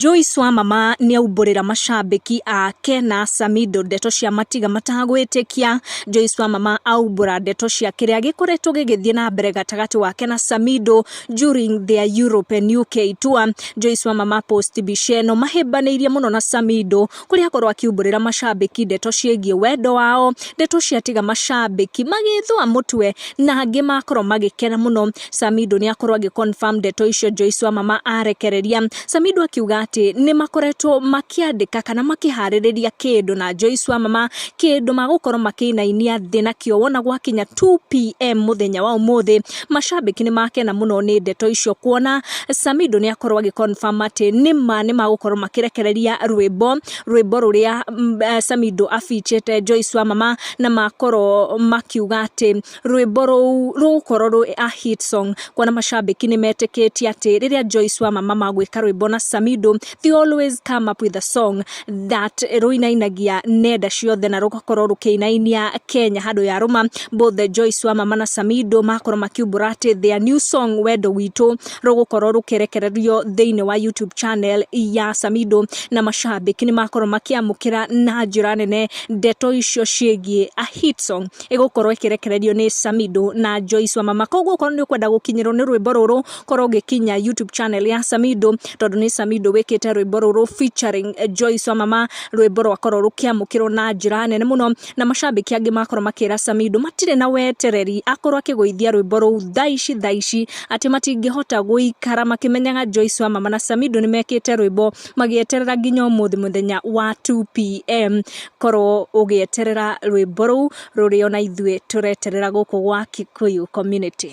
Joyce Wamama nĩaumbũrĩra macambĩki ake na Samido ndeto cia Matiga matagwĩtĩkia. Joyce Wamama aumbũra ndeto cia kĩrĩa gĩkoretwo gĩgĩthiĩ na mbere gatagatĩ wake na Samido during their Europe and UK tour. Joyce Wamama post mbica ĩno mahĩmbanĩirie mũno na Samido kũrĩa akorwo akiumbũrĩra macambĩki ndeto ciĩgiĩ wendo wao, ndeto ciatiga macambĩki magĩthũa mũtwe na angĩ makorwo magĩkena mũno. Samido nĩ akorwo agĩ confirm ndeto icio Joyce Wamama arekereria. Samido akiuga atĩ nĩ makoretwo makĩandĩka kana makĩharĩrĩria kĩndũ na Joyce Wamama, kĩndũ magũkorwo makĩinainia thĩ nakĩo wona gwakinya 2pm mũthenya wa ũmũthĩ. Macambĩki nĩ makena mũno nĩ ndeto icio kuona Samido nĩ akorwo agĩ confirm atĩ nĩma nĩ magũkorwo makĩrekereria rwĩmbo rwĩmbo rũrĩa mm, eh, Samido abichĩte Joyce wa mama na makorwo makiuga atĩ rwĩmbo rũu rũgũkorwo rwĩ a hit song kuona macambĩki nĩ metĩkĩtie atĩ rĩrĩa Joyce wa mama magwĩka rwĩmbo na Samido ti always come up with a song that rũinainagia nenda ciothe na rũgakorwo rũkĩinainia Kenya handũ ya rũma both the Joyce wa mama na Samido makorwo makiumbũra atĩ their new song wendo witũ rũgũkorwo rũkĩrekererio thĩinĩ wa YouTube channel ya Samido na mashabiki nĩ makorwo makĩamũkĩra na njĩra nene ndeto icio ciĩgiĩ a hit song ĩgũkorwo ĩkĩrekererio nĩ Samido na Joyce wa mama koguo okorwo nĩ ũkwenda gũkinyĩrwo nĩ rwĩmbo rũrũ korwo ũgĩkinya YouTube channel ya Samido tondũ nĩ Samido wĩkĩte rwĩmbo rũrũ featuring Joyce Wamama rwĩmbo rwakorwo rũkĩamũkĩrwo na njĩra nene mũno na macambĩki angĩ makorwo makĩra Samido matirĩ na wetereri akorwo akĩgũithia rwĩmbo rũu thaa ici thaa ici atĩ matingĩhota gũikara makĩmenyaga Joyce Wamama na Samido nĩ mekĩte rwĩmbo magĩeterera nginya ũmũthĩ mũthenya wa 2 pm korwo ũgĩeterera rwĩmbo rũu rũrĩ ona ithuĩ tũreterera gũkũ gwa Kikuyu community